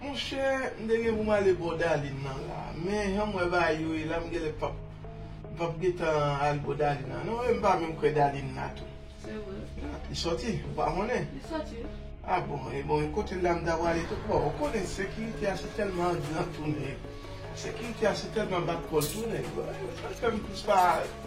Monchè m te gen pou m ale bò Darline nan la men janm wè bagay yo ye la m genlè pap m pap gentan al bò Darline nan non e m pa menm kwè Darline la tou. Se vre. Ah li sòti? Ou pa konnen? Li sòti wi. Ah bon e bon e kote l la m ta prale tou bon ou konnen sekirite a se tèlman an gran tou nèg sekirite a se tèlman bat kò l tou nèg sa k fè m plis pa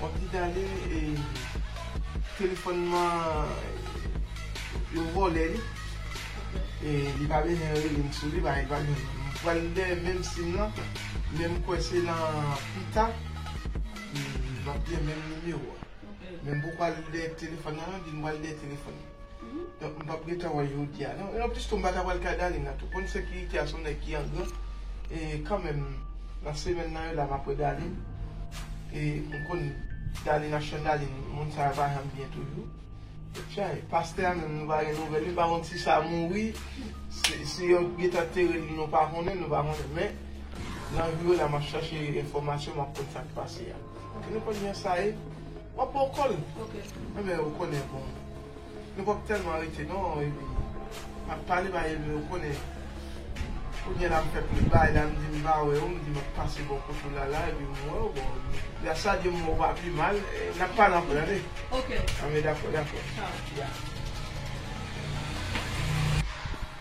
Wap di Darline e telefon man yo vole li e li pa bezwen relem sou li bagay pa gen m pral dèyè menm sim lan men m kwè se nan pita map gen menm nimewo a men m poko al dèyè telefon nan non di m pral dèyè telefon. Donk m pap gentan wè jodia non. En plus tou m pa ta pral kay Darline nan tou. Konn sekirite a se yon nèg ki angran. E kanmenm nan semèn nan yo la map wè Darline. E m konn Darline ak chan Darline moun sa yo pa janm byen toujou. E chay. Pastè a menm nou pa gen nouvèl li pa konn si sa mouri, si yo gentan tere li nou pa konnen, nou pa konnen. Men nan jou yo la map chache enfòmasyon map konn sak pase a. Ki nou konn jan sa ye. Wap bon kòl ok men ou konnen bon nou pap tèlman rete non epi map pale ba Elbe ou konnen kounye la mfè plis bay la mdi mpa wè ou mdi map pase bò kot ou lala epi m wèw bon ya sa di m wèw pa pi mal nap pale aprè tande ok ok dakò dakò ya.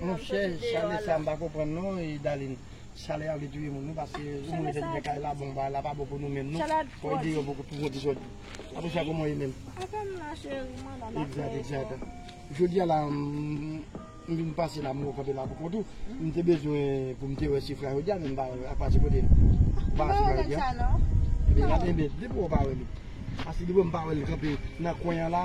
Monchè chale sa m pa konprann non Daline Chale a vle touye moun wi paske yon moun vin gen kay la bon bagay la pa bon pou nou menm non fò ede yo pou yo di sòt Patouche kòman w ye menm Egzat egzat Jodi a la m vin pase la m wè w kanpe la pou kont ou m te bezwen pou m te wè Sifra jodi a men m pa wè l ak pati kote l Ou pa wè Sifra jodi a Ebyen gade byen depi w wè w pa wè li Paske depi w wè m pa wè l kanpe nan kwen an la